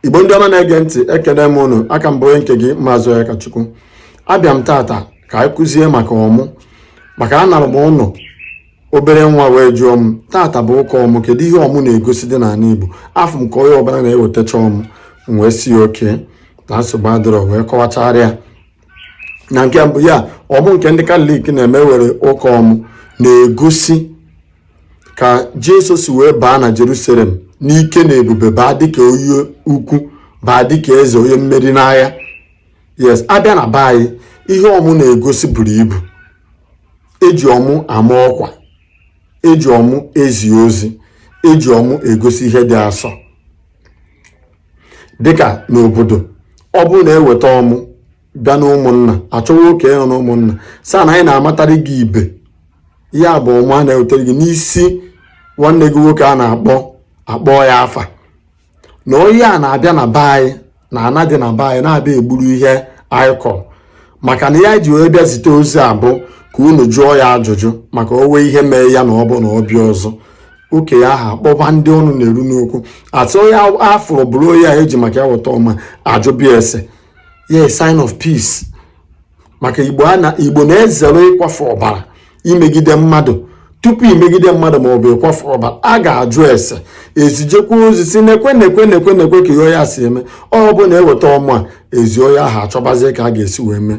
igbo ndị ọma na-ege ntị ekene m unu aka m bụ onye nke gị maazị Onyekachukwu abịa m tata ka anyị kụzie maka ọmụ maka anọrọ m ụnọ obere nwa wee jụọ m tata bụ ụka ọmụ kedu ihe ọmụ na-egosi dị n'ala igbo afụ m ka onye ọbụla na-ewetacha ọmụ m wee sị okay na nsogbu adịrọ wee kọwachara ya na nke mbụ ya ọmụ nke ndị katọlik na-eme were ụka ọmụ na-egosi ka Jesu si wee baa na Jerusalem n'ike na ebube baa dịka onye ukwu baa dịka eze onye mmeri n'agha yes abịa na be anyị ihe ọmụ na-egosi buru ibu eji ọmụ ama ọkwa eji ọmụ ezi ozi eji ọmụ egosi ihe dị asọ dịka n'obodo ọ bụrụ na eweta ọmụ bịa n'ụmụnna achọwa okenye nọ n'ụmụnna sị ya na anyị na-amatara gị ibe ya bụ ọmụ a na-ewetara gị n'isi nwanne gị nwoke a na-akpọ akpọọ ya afa na onye a na-abịa na be anyị na ana dị na be anyị na-abịa egburu ihe anyị kọrọ maka na ya ji wee bịa zite ozi a bụ ka unu jụọ ya ajụjụ maka o nwee ihe mee ya na ọ bụ na ọ bịa ọzọ okenye ahụ akpọba ndị ọnụ na-eru n'okwu atụ onye afụrụ bụrụ onye a eji maka ya weta ọmụ a ajụba ya ese yeah sign of peace maka igbo a na igbo na-ezere ịkwafu ọbara imegide mmadụ tupu imegide mmadụ ma ọ bụ ịkwafu ọbara a ga-ajụ ese ezijekwa ozi sị nekwe nekwe nekwe nekwe ka ihe onye a si eme ọ bụ na eweta ọmụ a ezi onye ahụ achọbazie ka a ga-esi wee mee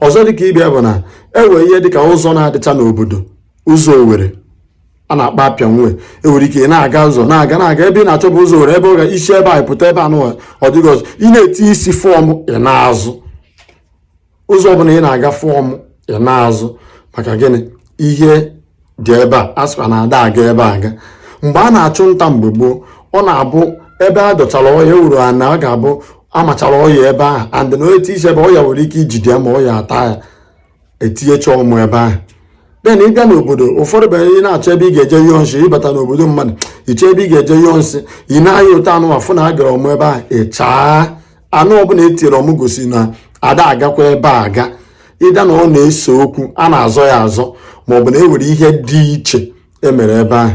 ọzọ dịka ịbịa bụ na e nwee ihe dịka ụzọ na-adịcha n'obodo ụzọ owere a na-akpọ appian way enwere ike na-aga ụzọ na-aga na-aga ebe ị na-achọba ụzọ owere ebe ị ga-esi ebe a pụta ebe anụ ọ dịghị ọzọ ị na-eti isi fụ ọmụ ị naa azụ ụzọ ọbụla ị na-aga fụ ọmụ ị naa azụ maka gịnị ihe dị ebe a asịkwa na ada aga ebe a aga mgbe a na-achụ nta mgbe gboo ọ na-abụ ebe a dọchara ọnya egwuru ana ọ ga-abụ amachara ọnya ebe ahụ and na iti isi ebe ọnya nwere ike ijide ma ọnya ata ya etinyecha ọmụ ebe ahụ then ị bịa n'obodo ụfọdụ bụ ị na-achọ ebe ị ga-eje nyụọ nsị ịbata n'obodo mmadụ iche ebe ị ga-eje nyụọ nsị ị na-aya ụtọ ana afụ na egere ọmụ ebe ahụ ịchaa ana ọbụna etinyere ọmụ gosi na ada agakwa ebe a aga either na ọ na-ese okwu a na-azọ ya azọ maọbụ na e nwere ihe dị iche emere ebe ahụ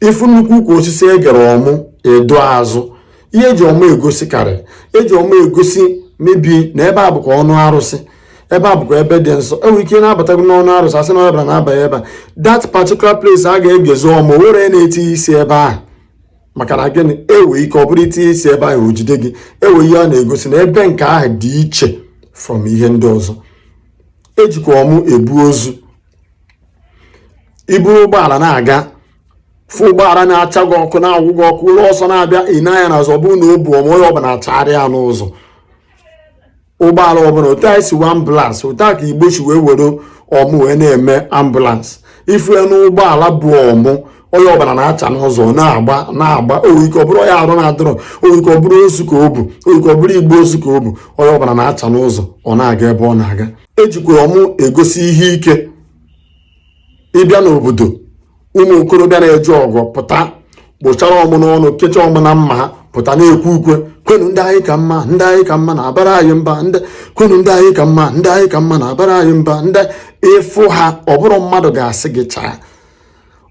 ịfụ nnukwu ukwu osisi egere ọmụ ị dọọ azụ ihe eji ọmụ egosi karị eji ọmụ egosi maybe na ebe a bụkwa ọnụ arụsị ebe a bụkwa ebe dị nsọ enwere ike na-abatago n'ọnụ arụsị asị na ọbịa ada abanye ebe a that particular place a ga-egezi ọmụ were na-etinye isi ebe ahụ maka na gịnị enwere ike ọ bụrụ itinye isi ebe ahụ o jide gị enwere ihe ọ na-egosi na ebe nke ahụ dị iche from ihe ndị ọzọ ejikwa ọmụ ebu ozu iburu ụgbọala na-aga fụ ụgbọala na-acha gị ọkụ na-awụ gị ọkụ ụlọ ọsọ na-abịa ị nee anya n'azụ ọ bụrụ na o bu ọmụ onye ọbụla achara ya n'ụzọ ụgbọala ọbụla otu anyị si nwee ambulance otu a ka igbo si wee were ọmụ wee na-eme ambulance ifu ya n'ụgbọala bu ọmụ onye ọbụla na-acha n'ụzọ na-agba na-agba o nwere ike ọbụrụ onye arụ na-adịrọ o nwere ike ọbụrụ ozu ka o bu o nwere ike ọbụrụ igbe ozu ka o bu onye ọbụla na-acha n'ụzọ ọ na-aga ebe ọ na-aga ejikwa ọmụ egosi ihe ike ịbịa n'obodo ụmụ okorobịa na-eje ọgụ pụta kpụchara ọmụ n'ọnụ kecha ọmụ na mma ha pụta na-ekwe ukwe kwenu ndị anyị ka mma ndị anyị ka mma na-abara anyị mba kwenu ndị anyị ka mma ndị anyị ka mma na-abara anyị mba ndị ịfụ ha ọ bụrọ mmadụ ga-asị gị chaa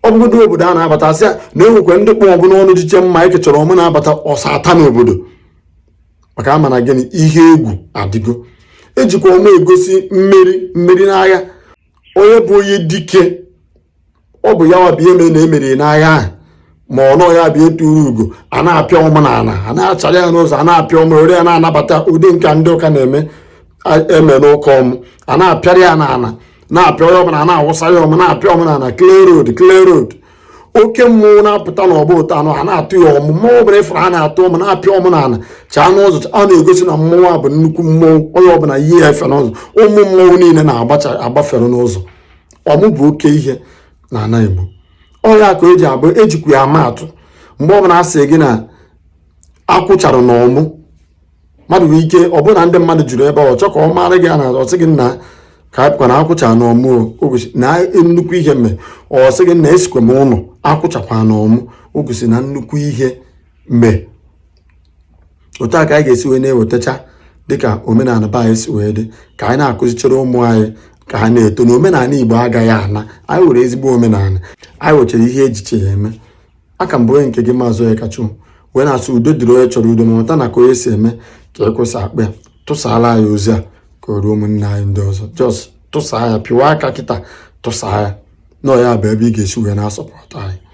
ọ bụgodu obodo a na-abata asị ya na enwekwa ndị kpụ ọmụ n'ọnụ jicha mma ekechara ọmụ na-abata ọsọ ata n'obodo maka ama na gịnị ihe egwu adịgo ejikwa ọmụ egosi mmeri mmeri n'agha onye bụ onye dike ọ bụ ya wa bụ ihe mere na emeri n'agha ahụ ma ọ nọ ya bụ eturu ugo a na-apịa ọmụ na ala a na-achara ya n'ụzọ a na-apịa ọmụ were ya na-anabata ụdị nke ndị ụka na-eme eme n'ụka ọmụ a na-apịara ya n'ala na-apịa ọmụ na na-awụsa ya ọmụ na-apịa ọmụ na ala clear road clear road oke mmụọ na-apụta n'ọgbọ ụtọ anụ a na-atụ ya ọmụ mmụọ ọbụla ịfụrụ a na-atụ ọmụ na-apịa ọmụ na ala chaa n'ụzọ a na-egosi na mmụọ a bụ nnukwu mmụọ onye ọbụla ihe ya efe n'ụzọ ụmụ mmụọ niile na-agbafere n'ụzọ ọmụ bụ oke ihe na ala Igbo ọ ya ka eji abụ ejikwa ya ama atụ mgbe ọbụla a sị gị na akwụ chara na ọmụ mmadụ nwere ike ọ bụrụ na ndị mmadụ juru ebe ọ chọọ ka ọ mara gị a na ọ sị gị nna ka a pụkwa na akwụ achaa na ọmụ o gosi na nnukwu ihe mere ọ sị gị nna esikwa m ụlọ akwụ chakwara na ọmụ o gosi na nnukwu ihe mere otu a ka anyị ga-esi wee na-ewetacha dịka omenala be anyị si wee dị ka anyị na-akụzichara ụmụ anyị ka ha na-eto na omenala igbo agaghị ana anyị nwere ezigbo omenala anyị nwechara ihe ejicha eme a ka m bụ onye nke gị maazị Onyekachi wee na-asị udo dịrị onye chọrọ udo ma mata na ka onye si eme ka ekwe si akpọ ya tụsaara anyị ozi a ka o ruo ụmụnne anyị ndị ọzọ just tụsaa ya pịwa aka kịta tụsaa ya na ya bụ ebe ị ga-esi wee na-asupport anyị